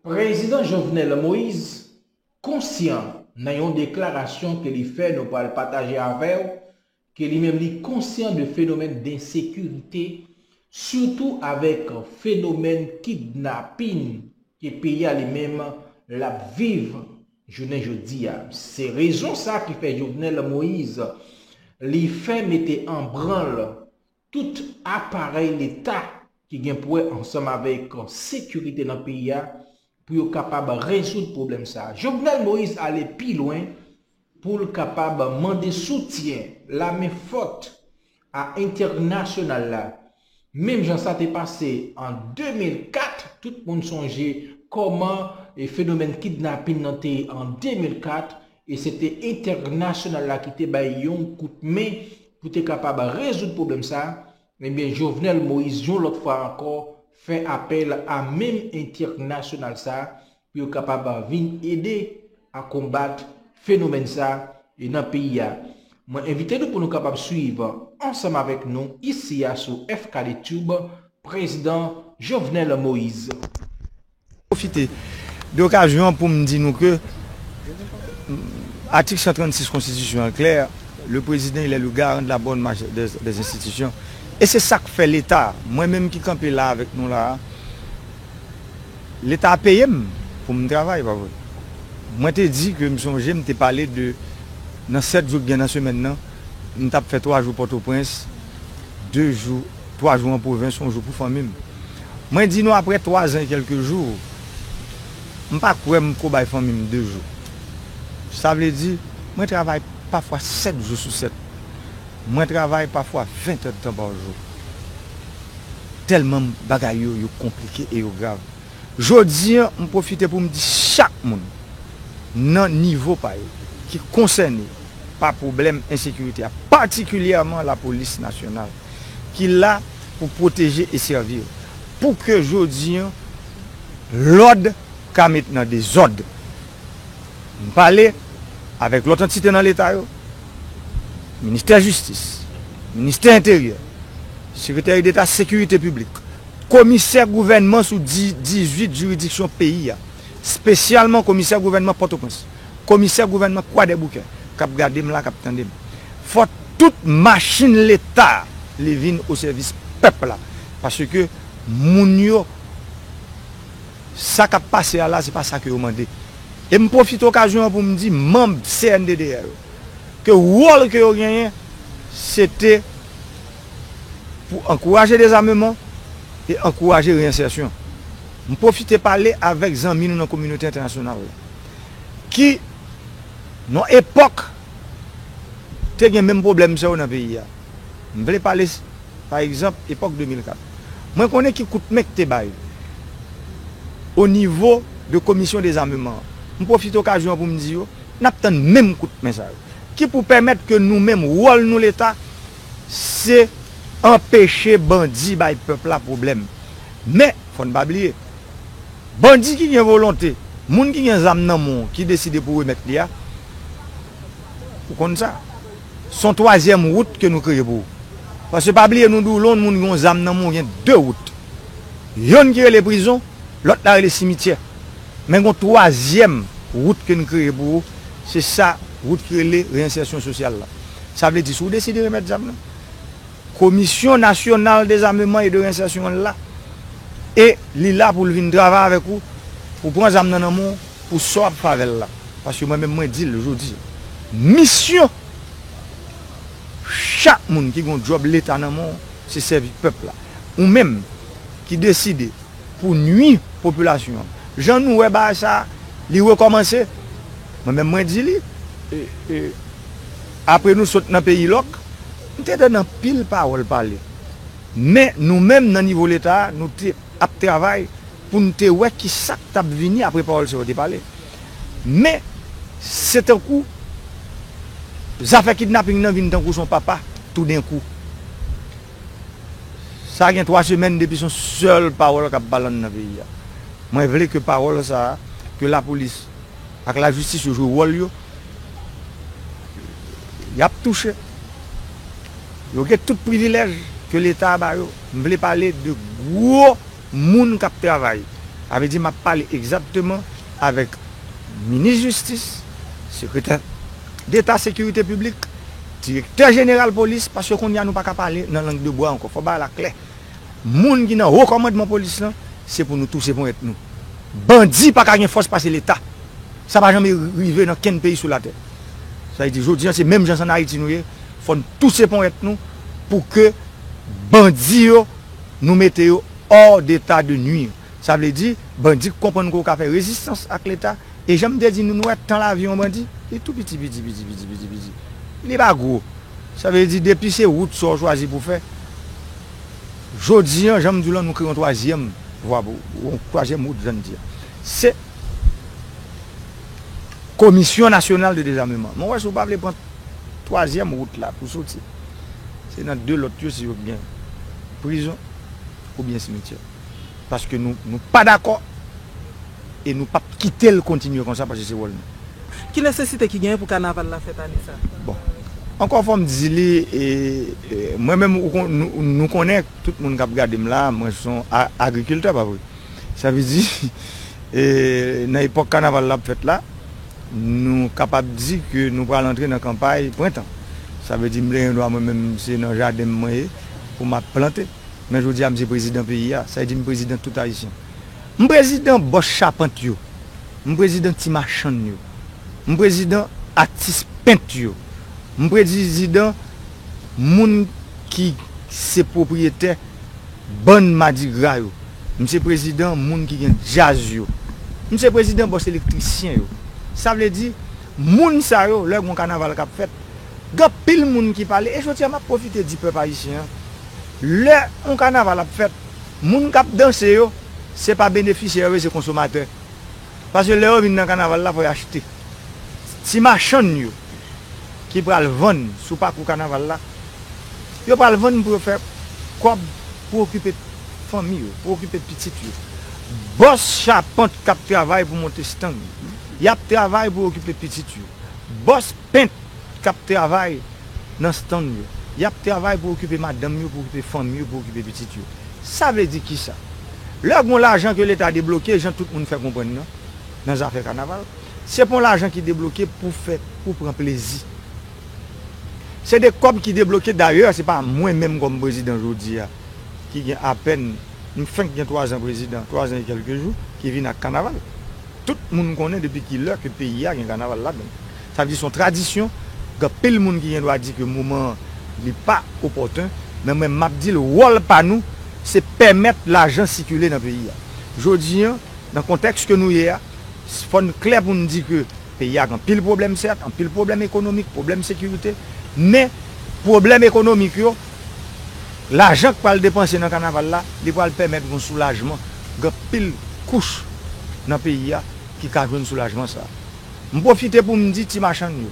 Prezidan Jovenel Moise konsyan nan yon deklarasyon ke li fè nou pral pataje avèw ke li menm li konsyan de fenomèn densekirite sitou avèk fenomèn kidnapin ke peyi a li menm lap viv jounen jodi a se rezon sa ki fè Jovenel Moise li fè mete anbranl Tout aparèy leta ki gen pou wè ansanm avèk sekirite nan peyi a pou yo kapab rezoud pwoblèm sa a. Jovenel Moïse ale pi lwen pou l kapab mande soutyen lame fòt a entènasyonal la. Menm jan sa te pase an 2004, tout moun sonje kòman fenomèn kidnapin nan te ye an 2004, E se te entènasyonal la ki te bay yon kout men pou te kapab rezoud pwoblèm sa, ebyen Jovenel Moïse yon lòt fwa ankò fè apèl a menm entènasyonal sa pou yo kapab vin ede a konbat fenomèn sa nan peyi a. Mwen envite nou pou nou kapab swiv ansanm avèk nou isi a sou FKD Tube, Prezidan Jovenel Moïse. Pwofite de okazyon an pou m di nou ke atik 136 konstitisyon an klè, le prezidan il est le garant de la bonne marche des institutions e se sa k fè leta, mwen menm ki kanpe la avèk nou la a, leta a peye m pou m travay pa vre? Mwen te di ke m sonje m te pale de nan 7 jou ki gen nan semèn nan, m t ap fè 3 jou Pòtoprens, 2 jou. 3 jou an pwovens son jou pou fanmi m. Mwen di nou aprè 3 zan e kèlke jou, m pa kwè m ko bay fanmi m 2 jou. Sa vle di, mwen travay pafwa 7 jou sou 7. Mwen travay pafwa 20 tèdtan pa jou. Tèlman bagay yo, yo konplike e yo grav. Jodi an, m pwofite pou m di chak moun, nan nivo pa yo, ki konsène, pa pwoblèm ensekirite a, patikilyèman lapolis nasyonal ki la pou pwoteje e sèvi yo, pou ke jodi an lòd ka met nan dezòd. M pale avèk lòt antite nan leta yo, ministè jistis, ministè enteryè, sekreteri deta sekirite piblik, komisè gouvènman sou 18 jiridiksyon peyi a, Spesyalman komisè gouvènman pòtoprens, komisè gouvènman kwadèboukè kap gadem la kap tandem fò tout machin leta li vin osèvis pèp la paske moun yo sa kap pase a la se pa sa ke yo mande e m pwofite okazyon an poum di manb cnddh yo ke wòl ke yo genyen se te pou ankouraje dezameman e ankouraje reyensèsyon. M pwofite pale avèk zanmi nou nan kominote entènasyonal la ki nan yon epòk te gen menm pwoblèm sa yo nan peyi a. M vle pale pa egzanp epòk 2004. Mwen konnen ki kout men k te bay o nivo de komisyon dezameman an. M pwofite okazyon an pou m di yo n ap tann menm kout men sa yo ki pou pèmèt ke nou menm wòl nou leta se anpeche bandi bay pèp la pwoblèm. Men Fò n pa bliye, bandi ki gen volonte, moun ki gen zam nan men w ki deside pou remèt li a, ou konn sa. S on twazyèm wout ke nou kreye pou ou. Paske pa bliye nou di w lè yon moun gen yon zam nan men w gen de wout. Yonn ki rele prizon, lòt la rele simityè. Men gen yon twazyèm wout ke n kreye pou ou, se sa wout ki rele reyensèsyon sosyal la. Sa vle di si w deside remèt zam nan, Komisyon Nasyonal Dezameman e de Rensèsyon an la e li la pou l vin travay avèk ou pou pran zam nan nan men w pou sa w ap fè avè l la. Paske mwen menm mwen di l jodi a, misyon chak moun ki gen yon djòb leta nan men w se sèvi pèp la. Ou menm ki deside pou w nui popilasyon an, jan nou wè bagay sa a li rekòmanse, mwen menm mwen di li, apre nou sot nan peyi lòk, M te tann anpil pawòl pale. Men nou menm nan nivo Leta a, nou te ap travay pou n te wè ki sa k t ap vini apre pawòl sa yo te pale. Men, se tankou zafè kidnaping nan vin tankou s on papa toudenkou. Sa gen twa semèn depi s on sèl pawòl k ap balann nan peyi a. Mwen vle ke pawòl sa a, ke lapolis. ak la jistis yo jwe wòl yo yap touche yo gen tout privilèj ke leta ba yo m vle pale de gwo moun kap travay sa vle di map pale egzatteman avèk minis jistis sekretè deta sekirite piblik direktè jeneral polis paske konnya nou paka pale nan lang de bwa ankò fò bagay la klè. Moun ki nan ho kòmandman polis lan se pou nou touse ponyèt nou. Bandi pa ka gen fòs pase leta. Sa pa janme rive nan kenn peyi sou latè. Sa vle di jodi an se menm jan san Ayiti nou ye fò n touse ponyèt nou pou ke bandi yo nou mete yo hors d'état de nuire. Sa vle di, bandi k konprann ke w ka fè rezistans ak leta, e jan m te di nou, nou wè tan lavi yon bandi, li tou piti piti piti piti piti piti, li pa gwo. Sa vle di depi se wout sa w chwazi pou w fè, jodi an jan m di w lan nou kreye yon twazyèm vwa pou, yon twazyèm wout jan n di an, se komisyon nasyonal de dezameman. Mwen wè si w pa vle pran twazyèm wout la pou w soti, se nan de lòt yo si yo gen prizon oubyen simityè. paske nou pa dakò e nou pap kite l kontinye konsa paske se wòl nou. Ki nesesite ki genyen pou kanaval la fèt ane sa? Bon, ankò fò m di li, mwen menm ou kon, nou konnen, tout moun k ap gade m la, mwen se yon agrikiltè pa vre? Sa vle di nan epòk kanaval la ap fèt la, nou kapab di ke nou pral antre nan kanpay prentan. Sa vle di m leyen dwa mwen menm se nan jaden m mwen ye pou m ap plante. Men jodi a m se prezidan peyi a, sa vle di m prezidan tout Ayisyen. M prezidan bòs chapant yo, m prezidan ti machann yo, m prezidan atis pent yo, m prezidan moun ki se pwopriyetè bann madigra yo, m se prezidan moun ki gen djaz yo, m se prezidan bòs elektrisyen yo. Sa vle di, moun sa yo, lè gen yon kanaval k ap fèt, Gen anpil moun ki pale e jodi a map pwofite di pèp ayisyen an, lè yon kanaval ap fèt, moun kap danse yo, se pa benefisyè yo ye se konsomatè. Paske lè yo vin nan kanaval la fò yo achte. Ti machann yo ki pral vann sou pakou kanaval la, yo pral vann pou yo fè kòb pou okipe fanmi yo, pou okipe pitit yo. Bòs chapant kap travay pou monte stang, yap travay pou okipe pitit yo. Bòs. Pent k ap travay nan stann yo. Y ap travay pou okipe madanm yo, pou okipe fanmi yo, pou okipe pitit yo. Sa vle di kisa? Lè gon lajan ke leta debloke, jan tout moun fè konprann nan, nan zafè kanaval, se pon lajan ki debloke pou fè, pou pran plezi. Se de kòb ki debloke, dayè se pa mwen menm kòm prezidan jodi a, ki gen apèn, m fenk gen twazan prezidan, twazan e kèlke jou, ki vin ak kanaval. Tout moun konnen depi ki lè ke peyi a gen kanaval ladan l. Sa vle di se yon tradisyon, gen anpil moun ki gen dwa di ke moman an li pa opòten, men mwen m ap di l wòl pa nou se pèmèt lajan sikile nan peyi a. Jodi an, nan kontèks ke nou ye a, fò n klè pou n di ke peyi a gen anpil pwoblèm sèt, anpil pwoblèm ekonomik, pwoblèm sekirite, men pwoblèm ekonomik yo, lajan k pral depanse nan kanaval la, li pral pèmèt gon soulajman. gen pil kouch nan peyi a ki ka jwenn soulajman sa. M pwofite pou m di ti machann yo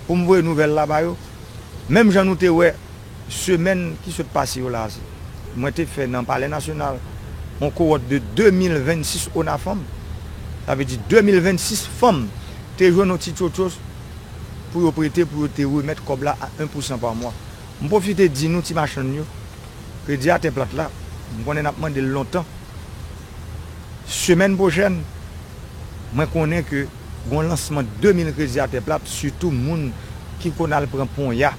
pou m voye nouvèl la ba yo menm jan nou te wè semèn ki sot pase yo la se mwen te fè nan palè nasyonal yon kowòt de 2026 ONAFANM sa vle di 2026 fanm te jwenn yon ti tchotchos pou yo prete pou yo te remèt kòb la a 1 pousan pa mwa. M pwofite di nou ti machann yo kredi a tè plat la m konnen nap mande l lontan semèn pwochèn mwen konnen ke gon lansman 2 mil kredi a tè plat sitou moun ki konn al pran ponya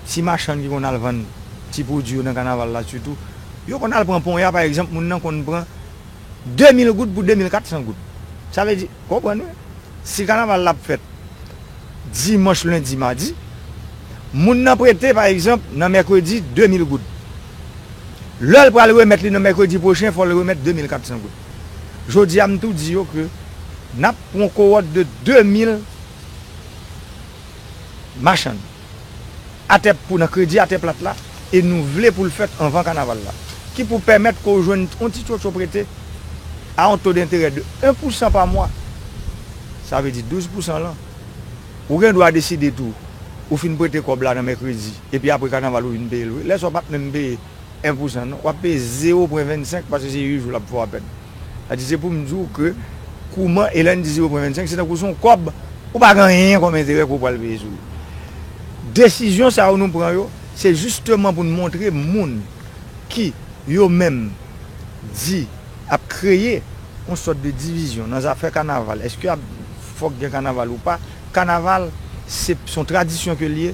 ti machann ki konn al vann ti pwodwi yo nan kanaval la sitou yo konn al pran ponya pa egzanp moun nan konn pran 2 mil goud pou 2 mil 400 goud. Sa vle di, konprann wi, si kanaval la ap fèt dimanch, lendi, madi, moun nan prete pa egzanp nan mèkredi 2 mil goud. Lè l pral remèt li nan mèkredi pwochen fò l remèt 2 mil 400 goud. Jodi a m tou di yo ke n ap pran kowòt de 2 mil machann. atè pou nan kredi atè plat la e nou vle pou l fèt anvan kanaval la ki pou pèmèt ke w jwenn yon ti tchotcho prete a yon to denterè de 1 pousan pa mwa sa vle di 12 pousan lan ou gen dwa deside tou ou fin prete kòb la nan mèkredi epi apre kanaval ou vin peye l wi lè sa w pa p menm peye 1 pousan non, wap peye 0 pwen 25 paske se you jou lap fèw apèn. Sa di se poum diw ke kouman e lèn di 0 pwen 25 se tankou son kòb ou pa gen anyen kòm enterè ke ou pwal peye sou li. Desizyon sa yo nou pran yo se jisteman poun montre moun ki yo menm di ap kreye yon sòt de divizyon nan zafè kanaval eske ap fòk gen kanaval ou pa, kanaval se son tradisyon ke liye.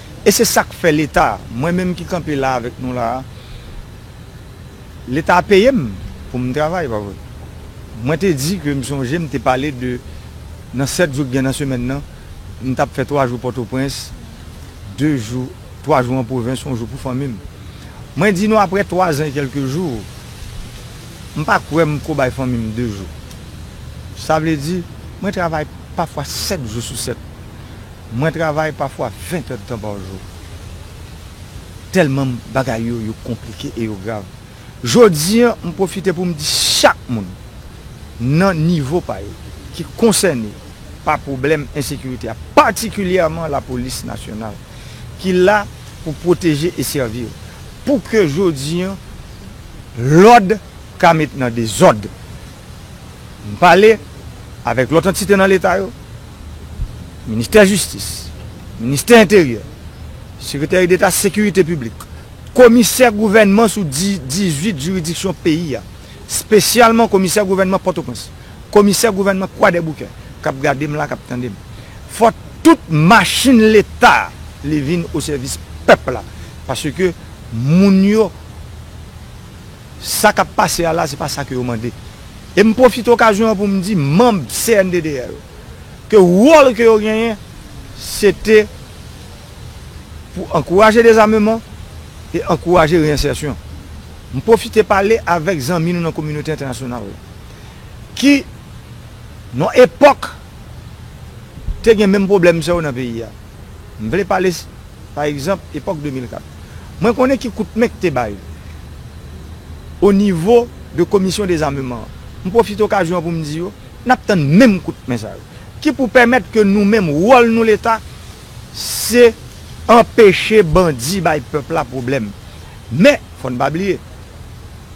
E se sa k fè Leta, mwen menm ki kanpe la avèk nou la a, Leta peye m pou m travay, pa vre? Mwen te di ke m sonje m te pale de nan 7 jou k gen nan semèn nan, m t ap fè 3 jou Pòtoprens, 2 jou, 3 jou an pwovens, yon jou pou fanmi m. Mwen di nou aprè 3 zan e kèlke jou, m pa kwè m ko bay fanmi m 2 jou. Sa vle di, mwen travay pafwa 7 jou sou 7. Mwen travay pafwa 20 heures de temps par jour telman bagay yo yo konplike e yo grav. Jodi an m pwofite pou m di chak moun nan nivo pa yo ki konsène pa pwoblèm ensekirite a patikilyèman lapolis nasyonal ki la pou pwoteje e sèvi yo pou ke jodi an lòd ka met nan dezòd. M pale avèk lòt antite nan Leta yo, Ministè Jistis, Ministè Enteryè, Sekreteri Deta Sekirite Piblik, Komisè Gouvènman sou 18 jiridiksyon peyi a, spesyalman Komisè Gouvènman Pòtoprens, Komisè Gouvènman Kwadèboukè, k ap gade m la, k ap tande m. Fò tout machin Leta li vin osèvis pèp la, paske moun yo. Sa k ap pase a la se pa sa ke yo mande. E m pwofite okazyon an pou m di manb CNDDR yo ke wòl ke yo genyen se te pou ankouraje dezameman e ankouraje reyensèsyon. M pwofite pale avèk zanmi nou nan kominote entènasyonal la ki nan epòk te gen menm pwoblèm sa yo nan peyi a. M vle pale, pa egzanp, epòk 2004. Mwen konnen ki kout men k te bay o nivo de komisyon dezameman an. M pwofite okazyon an pou m di yo, n ap tann menm kout men sa yo, ki pou pèmèt ke nou menm, wòl nou Leta, se anpeche bandi bay pèp la pwoblèm. Men, fò n pa bliye,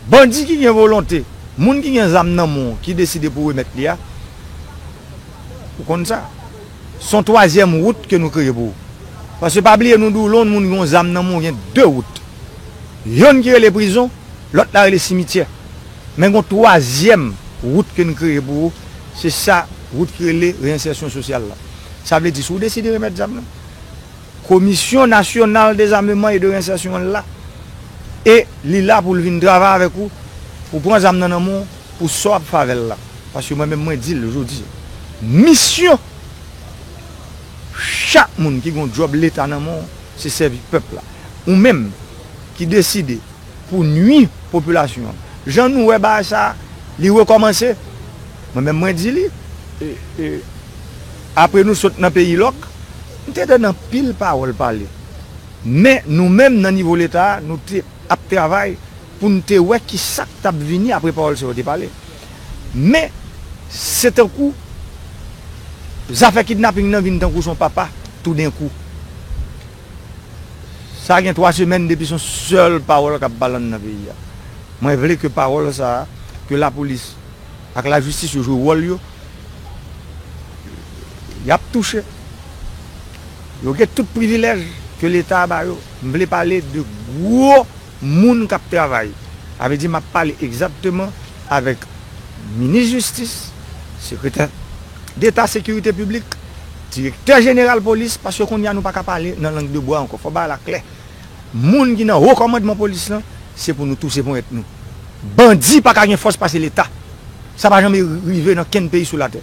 bandi ki gen volonte, moun ki gen zam nan men w, ki deside pou remèt li a, ou konn sa. Son twazyèm wout ke nou kreye pou ou. Paske pa bliye nou di w lon moun gen yon zam nan men w gen 2 wout. Yonn ki rele prizon, lòt la rele simityè. Men gen yon twazyèm wout ke n kreye pou ou, se sa wout ki rele reyensèsyon sosyal la. Sa vle di si w deside remèt zam nan, komisyon nasyonal dezameman e de reyensèsyon an la e li la pou l vin travay avèk ou pou pran zam nan nan men w. Pou sa w ap favel la. Paske mwen menm mwen dil jodi a. Misyon chak moun ki gon djòb leta nan men w se sèvi pèp la. Ou menm ki deside pou w nwi popilasyon an. Jan nou wè bagay sa li rekòmanse. Mwen menm mwen di li. Apre nou sot nan peyi lòk. M te tande anpil pawòl pale. Men nou menm nan nivo leta nou te ap travay. pou n te wè ki sa k t ap vini apre pawòl sa yo te pale. Men, se tankou zafè kidnaping nan vin tankou s on papa toudenkou. Sa gen twa semèn depi s on sèl pawòl k ap pale anndan peyi a. Mwen vle ke pawòl sa a, ke lapolis ak lajistis yo jwe wòl yo, y ap touche, yo gen tout privilèj ke Leta a ba yo. M vle pale de gwo. moun k ap travay, sa vle di m ap pale egzatteman avèk minis jistis, sekretè deta sekirite piblik, direktè jeneral polis, paske kounye a nou pa ka pale nan lang de bwa ankò, fò bagay la klè, moun ki nan wo kòmandman polis lan, se pou nou touse ponyèt nou. Bandi pa ka gen fòs pase leta, sa pa janm rive nan kenn peyi sou latè.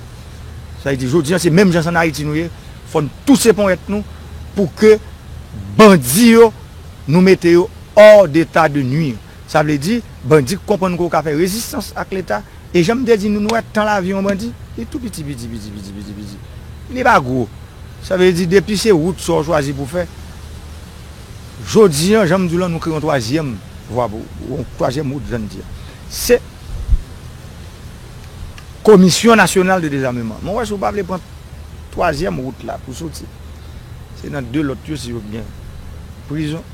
Sa vle di jodi an se menm jan s an Ayiti nou ye, fò n touse ponyèt nou pou ke bandi yo Nou mete yo hors d'état de nuire. Sa vle di, bandi k konprann ke w ka fè rezistans ak leta, e jan m te di nou, nou wè tan lavi yon bandi, li tou piti piti piti piti piti piti. Li pa gwo. Sa vle di depi se wout sa w chwazi pou w fè, jodi an, jan m di w lan, nou kreye yon twazyèm vwa pou w, yon twazyèm wout jan n di a. Se. Komisyon nasyonal de dezameman. Mwen wè si w pa vle pran twazyèm wout la pou w soti. Se nan de lòt yo si yo gen prizon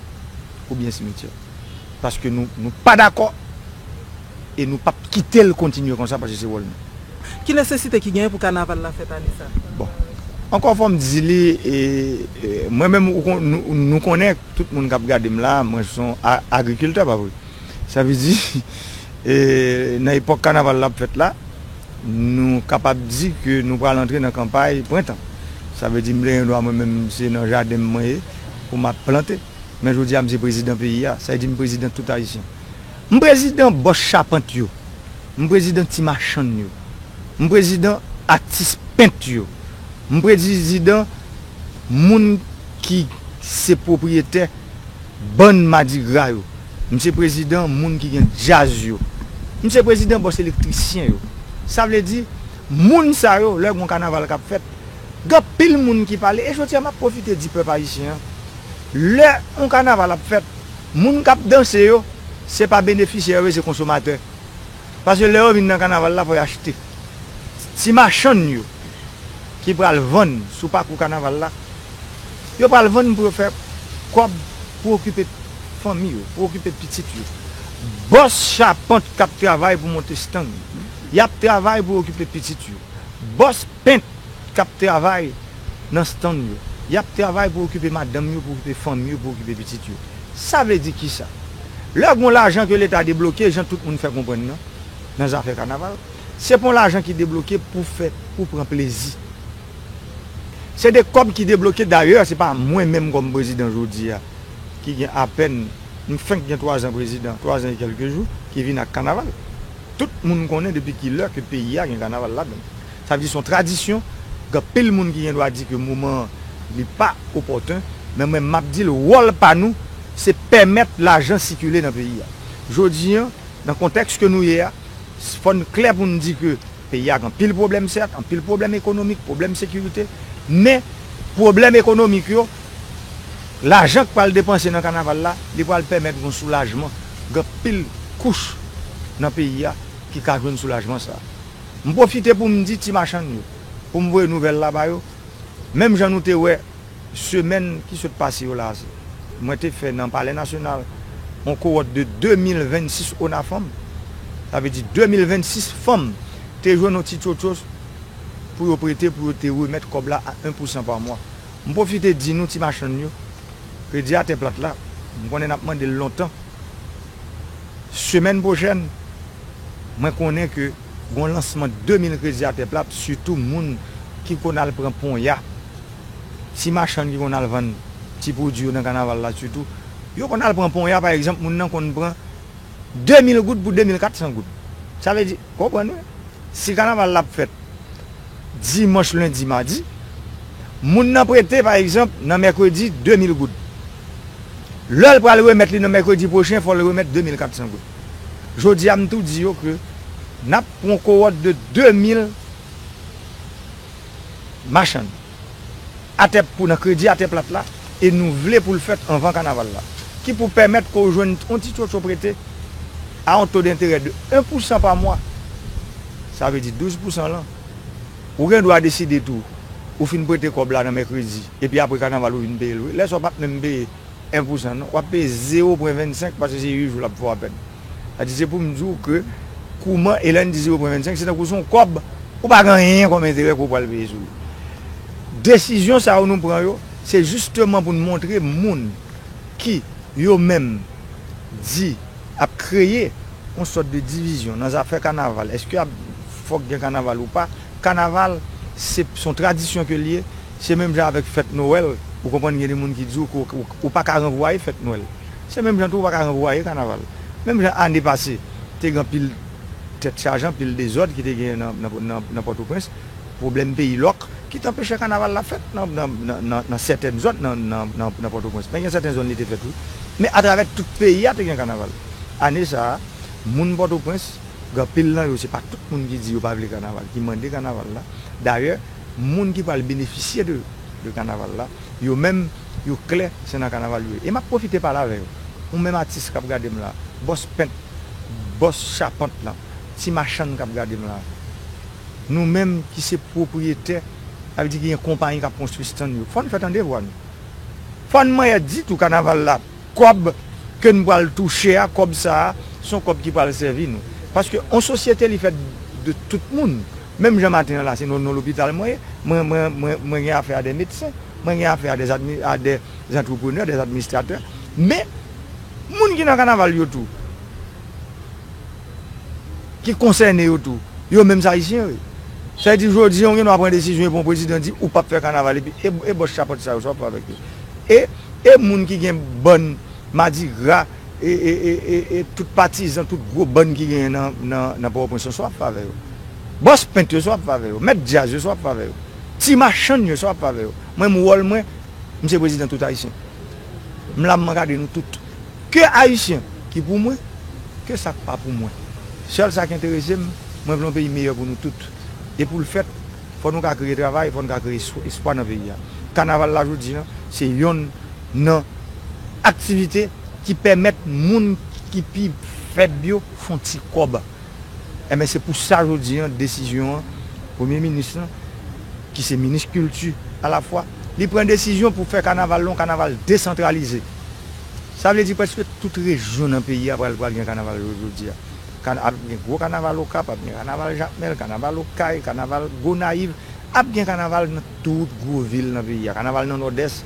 oubyen simityè. Paske nou nou pa dakò e nou p ap kite l kontinye konsa paske se wòl nou. Ki nesesite ki genyen pou kanaval la fèt ane sa? Bon. Ankò fò m di li e mwen menm ou kon nou konnen tout moun k ap gade m la mwen s on agrikiltè pa vre? Sa vle di, nan epòk kanaval la ap fèt la, nou kapab di ke nou pral antre nan kanpay prentan. Sa vle di m plen yon dwa mwen menm se nan jaden m mwen ye pou m ap plante. Men jodi a m se prezidan peyi a. Sa vle di m prezidan tout Ayisyen. M prezidan bòs chapant yo. M prezidan ti machann yo. M prezidan atis pent yo. M prezidan. moun ki se pwopriyetè bann madigra yo, m se prezidan moun ki gen djaz yo, m se prezidan bòs elektrisyen yo. Sa vle di, moun sa yo, lè gon kanaval k ap fèt, gen anpil moun ki pale, e jodi a m ap pwofite di pèp ayisyen an, lè on kanaval ap fèt, moun k ap danse yo, se pa benefisyè yo ye, se konsomatè. Paske lè yo vin nan kanaval la fò yo achte. Ti machann yo ki pral vann sou pakou kanaval la, yo pral vann pou yo fè kòb pou okipe fanmi yo, pou okipe pitit yo. Bòs chapant k ap travay pou monte stand, y ap travay pou okipe pitit yo. Bòs pent k ap travay nan stann yo. Y ap travay pou okipe madanm yo, pou okipe fanmi yo, pou okipe pitit yo. Sa vle di ki sa? Lè gon lajan ke leta debloke, jan tout moun fè konprann nan, nan zafè kanaval, se pa yon lajan ki debloke pou fè, pou pran plezi. Se de kòb ki debloke, dayè se pa mwen menm kòm prezidan jodi a, ki gen apèn, m fenk gen 3 zan prezidan, 3 zan e kèlke jou, ki vin ak kanaval. Tout moun konnen depi ki lè ke peyi a gen kanaval ladan l. Sa vle di se yon tradisyon, gen anpil moun ki gen dwa di ke moman an li pa opòten, men mwen map di l wòl pa nou se pèmèt lajan sikile nan peyi a. Jodi an, nan kontèks ke nou ye a, fò n klè pou n di ke peyi a gen anpil pwoblèm sèt, anpil pwoblèm ekonomik, pwoblèm sekirite, men pwoblèm ekonomik yo, lajan k pral depanse nan kanaval la, li pral pèmèt gon soulajman, gen anpil kouch nan peyi a ki ka jwenn soulajman sa. M pwofite pou m di ti machann yo pou m voye nouvèl la ba yo, menm jan nou te wè semèn ki sot pase yo la a se mwen te fè nan palè nasyonal on kowòt de 2026 ONAFANM, sa vle di 2026 fanm te jwenn on ti tchotchos pou yo prete pou yo te remèt kòb la a 1 pousan pa mwa. M pwofite di nou ti machann yo, kredi a tè plat la, m konnen n ap mande l lontan, semèn pwochèn mwen konnen ke gon lansman 2000 kredi atè plat sitou moun ki konn al pran ponya ti machann ki konn al vann ti pwodwi yo nan kanaval la sitou yo konn al pran ponya pa egzanp moun nan konn pran 2000 goud pou 2400 goud sa vle di konprann wi si kanaval la ap fèt dimanch lendi madi moun nan prete pa egzanp nan mèkredi 2000 goud. Lè l pral remèt li nan mèkredi pwochen fò l remèt 2400 goud. Jodi a m tou di yo ke n ap pran kowòt de 2000 machann atè pou nan kredi atè plat la e nou vle pou l fèt anvan kanaval la ki pou pèmèt ke w jwenn yon ti tchotcho prete a yon to denterè de 1 pousan pa mwa sa vle di 12 pousan lan. Ou gen dwa deside tou ou fin prete kòb la nan mèkredi epi apre kanaval ou vin peye l wi. Lè sa w pap menm peye 1 pousan non, wap peye zewo pwen 25 paske se 8 jou lap fè w apèn. Sa vle di se pou m di w ke kouman e lè n di zewo pwen 25 se tankou se yon kòb ou pa gen anyen kòm enterè ke w pral peye sou li. Desizyon sa yo nou pran yo se jisteman pou n montre moun ki yo menm di. Ap kreye yon sòt de divizyon nan zafè kanaval, eske ap fòk gen kanaval ou pa, kanaval se son tradisyon ke li ye, se menm jan avèk fèt nowèl ou konprann gen de moun ki di w ou pa ka ranvwaye fèt nwèl, se menm jan tou ou pa ka ranvwaye kanaval, menm jan ane pase te gen anpil tèt chaje anpil dezòd ki te genyen nan pòtoprens. Pwoblèm peyi lòk ki t anpeche kanaval la fèt nan sètèn zòn nan Pòtoprens. Men gen sèten zòn li te fèt wi. Men atravè tout peyi a te gen kanaval. Ane sa a, moun Pòtoprens, gen anpil nan yo se pa tout moun ki di yo pa vle kanaval, ki mande kanaval la. Dayè, moun ki pral benefisye de kanaval la, yo menm, yo klè se nan kanaval yo ye. E m ap pwofite pale avè yo, ou menm atis k ap gade m la, bòs pent, bòs chapant lan, ti machann k ap gade m la, Nou menm ki se pwopriyetè, sa vle di ki gen konpayi k ap konstwi stand yo, fò n fè tande vwa nou. Fò n manyè di tou kanaval la kòb ke n pral touche a, kòb sa a s on kòb ki pral sèvi nou. Paske yon sosyete li fèt de tout moun. Menm jan maten an la se nan yon lopital mwen ye, mwen gen afè a dè medsen, mwen gen afè a dè antreprenè, dè administratè. Men, moun ki nan kanaval yo tou. ki konsène yo tou, yo menm se Ayisyen yo ye. Sa vle di jodi an ou gen dwa pran desizyon epi yon prezidan di ou pap fè kanaval epi e bòs chapant sa yo sa wap fè avèk yo? E e moun ki gen bann madigra e e e e e tout patizan tout gwo bann ki genyen nan nan nan pòtoprens lan sa wap fè avè yo? Bòs pent yo sa wap fè avè yo? Mèt djaz yo sa wap fè avè yo? Ti machann yo sa wap fè avè yo? Mwen menm wòl mwen m se prezidan tout Ayisyen. M la m ankadre nou tout. Ke Ayisyen ki pou mwen, ke sa k pa pou mwen. Sèl sa k enterese m, mwen vle yon peyi meyè pou nou tout. E pou l fèt, fò nou ka kreye travay, fò nou ka kreye espwa nan peyi a. Kanaval la jodi an, se yonn nan aktivite ki pèmèt moun ki pi fèb yo fon ti kòb. Enben, se pou sa jodi an, desizyon an, Premye Minis lan, ki se Minis Kilti alafwa, li pran desizyon pou fè kanaval la yon kanaval desantralize. Sa vle di prèske tout rejyon nan peyi a pral pral gen kanaval jou jodi a. Kan ap gen gwo kanaval Okap, ap gen kanaval Jakmèl, kanaval Okay, kanaval Gonayiv, ap gen kanaval nan tout gwo vil nan peyi a, kanaval nan Nòdès,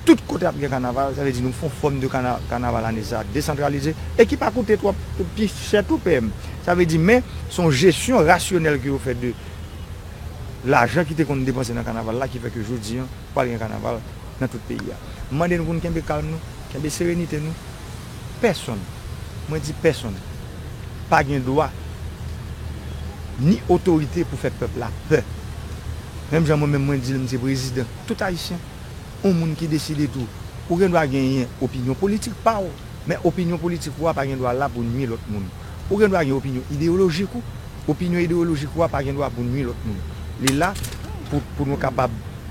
tout kote ap gen kanaval, sa vle di nou fon fòm de kana kanaval ane sa desantralize e ki pa koute twòp pi chè tou PM. Sa vle di men son jesyon rasyonèl ke yo fè de lajan ki te konn depanse nan kanaval la ki fè ke jodi an pral gen kanaval. nan tout peyi a. M mande nou pou nou kenbe kalm nou, kenbe serenite nou. Pèsonn, mwen di pèsonn, pa gen dwa ni otorite pou fè pèp la pè. Menm jan mwen menm mwen di l m se prezidan tout Ayisyen, yon moun ki deside tou, ou gen dwa genyen opinyon politik pa w, men opinyon politik ou a pa gen dwa la pou nui lòt moun. Ou gen dwa gen opinyon ideyolojik ou, opinyon ideyolojik ou a pa gen dwa pou nui lòt moun. Li la pou nou kapab.